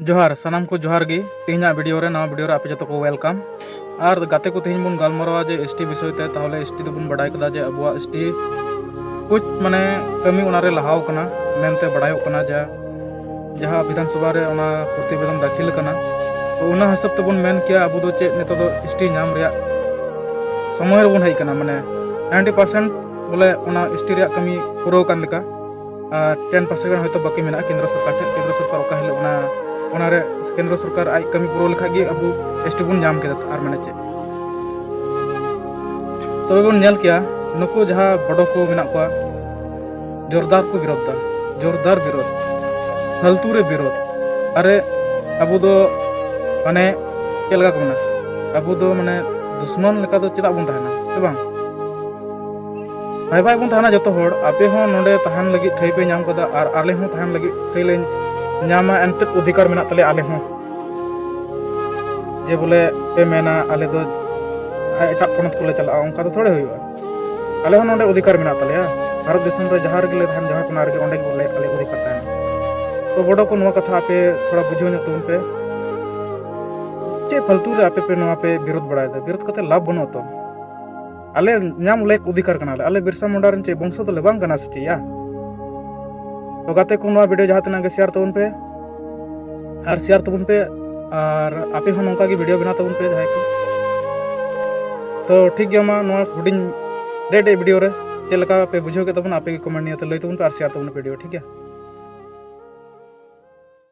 ᱡᱚᱦᱟᱨ ᱥᱟᱱᱟᱢ ᱠᱚ ᱡᱚᱦᱟᱨ ᱜᱮ ᱛᱮᱦᱮᱧᱟᱜ ᱵᱷᱤᱰᱤᱭᱳ ᱨᱮ ᱱᱟᱣᱟ ᱵᱷᱤᱰᱤᱭᱳ ᱨᱮ ᱟᱯᱮ ᱡᱚᱛᱚ ᱠᱚ ᱣᱮᱞᱠᱟᱢ ᱟᱨ ᱜᱟᱛᱮ ᱠᱚ ᱛᱮᱦᱮᱧ ᱵᱚᱱ ᱜᱟᱞᱢᱟᱨᱟᱣᱟ ᱡᱮ ᱮᱥ ᱴᱤ ᱵᱤᱥᱚᱭ ᱛᱮ ᱛᱟᱦᱚᱞᱮ ᱮᱥ ᱴᱤ ᱫᱚᱵᱚᱱ ᱵᱟᱰᱟᱭ ᱠᱮᱫᱟ ᱡᱮ ᱟᱵᱚᱣᱟᱜ ᱮᱥ ᱴᱤ ᱠᱩᱪ ᱢᱟᱱᱮ ᱠᱟᱹᱢᱤ ᱚᱱᱟᱨᱮ ᱞᱟᱦᱟᱣ ᱠᱟᱱᱟ ᱢᱮᱱᱛᱮ ᱵᱟᱰᱟᱭᱚᱜ ᱠᱟᱱᱟ ᱡᱟ ᱡᱟᱦᱟᱸ ᱵᱤᱫᱷᱟᱱ ᱥᱚᱵᱷᱟ ᱨᱮ ᱚᱱᱟ ᱯᱨᱚᱛᱤᱵᱮᱫᱚᱱ ᱫᱟᱹᱠᱷᱤᱞ ᱠᱟᱱᱟ ᱛᱚ ᱚᱱᱟ ᱦᱤᱥᱟᱹᱵ ᱛᱮᱵᱚᱱ ᱢᱮᱱ ᱠᱮᱭᱟ ᱟᱵᱚ ᱫᱚ ᱪᱮᱫ ᱱᱤᱛᱚᱜ ᱫᱚ ᱮᱥ ᱴᱤ ᱧᱟᱢ ᱨᱮᱭᱟᱜ ᱥᱚᱢᱚᱭ ᱨᱮᱵᱚᱱ ᱦᱮᱡ ᱠᱟᱱᱟ ᱢᱟᱱᱮ ᱱᱟᱭᱤᱱᱴᱤ ᱯᱟᱨᱥᱮᱱᱴ ᱵᱚᱞᱮ ᱚᱱᱟ ᱮᱥ ᱴᱤ ᱨᱮᱭᱟᱜ ᱠᱟᱹᱢᱤ ᱯᱩᱨᱟᱹᱣ ᱠᱟᱱ ᱞᱮᱠᱟ ᱴᱮᱱ ᱯᱟᱨᱥᱮᱱ ᱜᱟᱱ ᱦᱚᱭᱛᱳ ᱵᱟᱹᱠᱤ ᱢᱮᱱᱟᱜᱼᱟ ᱠᱮᱱᱫᱨᱚ ᱥᱚᱨᱠᱟᱨ ᱴᱷᱮᱱ ᱠᱮᱱᱫᱨᱚ ᱥᱚᱨᱠᱟᱨ ᱚᱠᱟ ᱦᱤᱞᱳᱜ ᱚᱱᱟ ᱚᱱᱟᱨᱮ ᱠᱮᱱᱫᱨᱚ ᱥᱚᱨᱠᱟᱨ ᱟᱡ ᱠᱟᱹᱢᱤ ᱯᱩᱨᱟᱹᱣ ᱞᱮᱠᱷᱟᱡ ᱜᱮ ᱟᱵᱚ ᱮᱥ ᱴᱤ ᱵᱚᱱ ᱧᱟᱢ ᱠᱮᱫᱟ ᱟᱨ ᱢᱟᱱᱮ ᱪᱮᱫ ᱛᱚᱵᱮ ᱵᱚᱱ ᱧᱮᱞ ᱠᱮᱭᱟ ᱱᱩᱠᱩ ᱡᱟᱦᱟᱸ ᱵᱚᱰᱚ ᱠᱚ ᱢᱮᱱᱟᱜ ᱠᱚᱣᱟ ᱡᱳᱨᱫᱟᱨ ᱠᱚ ᱵᱤᱨᱳᱫᱷ ᱫᱟ ᱡᱳᱨᱫᱟᱨ ᱵᱤᱨᱳᱫᱷ ᱯᱷᱟᱞᱛᱩ ᱨᱮ ᱵᱤᱨᱳᱫᱷ ᱟᱨᱮ ᱟᱵᱚ ᱫᱚ ᱢᱟᱱᱮ ᱪᱮᱫ ᱞᱮᱠᱟ ᱠᱚ ᱢᱮᱱᱟ ᱟᱵᱚ ᱫᱚ ᱢᱟᱱᱮ ᱫᱩᱥᱢᱚᱱ ᱞᱮᱠᱟ ᱫᱚ ᱪᱮᱫᱟᱜ ᱵᱚᱱ ᱛᱟᱦᱮᱱᱟ ᱥᱮ ᱵᱟᱝ ᱵᱷᱟᱭ ᱵᱷᱟᱭ ᱵᱚᱱ ᱛᱟᱦᱮᱱᱟ ᱡᱚᱛᱚ ᱦᱚᱲ ᱟᱯᱮ ᱦᱚᱸ ᱱᱚᱰᱮ ᱛᱟᱦᱮᱱ ᱞᱟᱹᱜᱤᱫ ᱴᱷᱟᱹᱭ ᱯᱮ ᱧᱟᱢ ᱠᱟᱫᱟ ᱟᱨ ᱟᱞᱮ ᱦᱚᱸ ᱛᱟᱦᱮᱱ ᱞᱟᱹᱜᱤᱫ ᱴᱷᱟᱹᱭ ᱞᱮ ᱧᱟᱢᱟ ᱮᱱᱛᱮ ᱚᱫᱷᱤᱠᱟᱨ ᱢᱮᱱᱟᱜ ᱛᱟᱞᱮᱭᱟ ᱟᱞᱮ ᱦᱚᱸ ᱡᱮ ᱵᱚᱞᱮ ᱯᱮ ᱢᱮᱱᱟ ᱟᱞᱮ ᱫᱚ ᱮᱴᱟᱜ ᱯᱚᱱᱚᱛ ᱠᱚᱞᱮ ᱪᱟᱞᱟᱜᱼᱟ ᱚᱱᱠᱟ ᱫᱚ ᱛᱷᱚᱲᱮ ᱦᱩᱭᱩᱜᱼᱟ ᱟᱞᱮ ᱦᱚᱸ ᱱᱚᱰᱮ ᱚᱫᱷᱤᱠᱟᱨ ᱢᱮᱱᱟᱜ ᱛᱟᱞᱮᱭᱟ ᱵᱷᱟᱨᱚᱛ ᱫᱤᱥᱚᱢ ᱨᱮ ᱡᱟᱦᱟᱸ ᱨᱮᱜᱮ ᱞᱮ ᱛᱟᱦᱮᱱ ᱡᱟᱦᱟᱸ ᱠᱚᱱᱟ ᱨᱮᱜᱮ ᱚᱸᱰᱮ ᱜᱮ ᱵᱚᱞᱮ ᱟᱞᱮ ᱚᱫᱷᱤᱠᱟᱨ ᱛᱟᱦᱮᱱᱟ ᱛᱚ ᱵᱚᱰᱚ ᱠᱚ ᱱᱚᱣᱟ ᱠᱟᱛᱷᱟ ᱟᱯᱮ ᱛᱷᱚᱲᱟ ᱵᱩᱡᱷᱟᱹᱣ ᱧᱚᱜ ᱛᱟᱵᱚᱱ ᱯᱮ ᱪᱮᱫ ᱯᱷᱟᱞᱛᱩ ᱨᱮ ᱟᱯᱮ ᱯᱮ ᱱᱚᱣᱟ ᱯᱮ ᱵᱤᱨᱳᱫ ᱵᱟᱲᱟᱭᱮᱫᱟ ᱵᱤᱨᱳᱫ ᱠᱟᱛᱮ ᱞᱟᱵᱷ ᱵᱟᱹᱱᱩᱜᱼᱟ ᱛᱚ ᱟᱞᱮ ᱧᱟᱢ ᱞᱮᱠ ᱚᱫᱷᱤᱠᱟᱨ ᱠᱟᱱᱟᱞᱮ ᱟᱞᱮ ᱵᱤᱨᱥᱟ ᱢᱩᱱᱰᱟ ᱨᱮᱱ ᱪᱮᱫ ᱵᱚᱝᱥᱚ ᱫᱚᱞᱮ ᱵᱟᱝ ᱠᱟᱱᱟ ᱥᱮ ᱪᱮᱫ ᱭᱟ ᱛᱚ ᱜᱟᱛᱮ ᱠᱚ ᱱᱚᱣᱟ ᱵᱷᱤᱰᱤᱭᱳ ᱡᱟᱦᱟᱸ ᱛᱤᱱᱟᱹᱜ ᱜᱮ ᱥᱮᱭᱟᱨ ᱛᱟᱵᱚᱱ ᱯᱮ ᱟᱨ ᱥᱮᱭᱟᱨ ᱛᱟᱵᱚᱱ ᱯᱮ ᱟᱨ ᱟᱯᱮ ᱦᱚᱸ ᱱᱚᱝᱠᱟ ᱜᱮ ᱵᱷᱤᱰᱤᱭᱳ ᱵᱮᱱᱟᱣ ᱛᱟᱵᱚᱱ ᱯᱮ ᱡᱟᱦᱟᱸᱭ ᱠᱚ ᱛᱚ ᱴᱷᱤᱠ ᱜᱮᱭᱟ ᱢᱟ ᱱᱚᱣᱟ ᱦᱩᱰᱤᱧ ᱰᱮ ᱰᱮ ᱵᱷᱤᱰᱤᱭᱳ ᱨᱮ ᱪᱮᱫ ᱞᱮᱠᱟ ᱯᱮ ᱵᱩᱡᱷᱟᱹᱣ ᱠᱮᱫ ᱛᱟᱵᱚᱱᱟ ᱟᱯᱮ ᱜᱮ ᱠᱚᱢᱮᱱᱴ ᱱᱤᱭᱟᱹ ᱛᱮ ᱞᱟᱹᱭ ᱛᱟᱵᱚᱱ ᱯᱮ ᱟᱨ ᱥᱮᱭᱟᱨ ᱛᱟᱵᱚᱱ ᱵᱷᱤᱰᱤᱭᱳ ᱴᱷᱤᱠ ᱜᱮᱭᱟ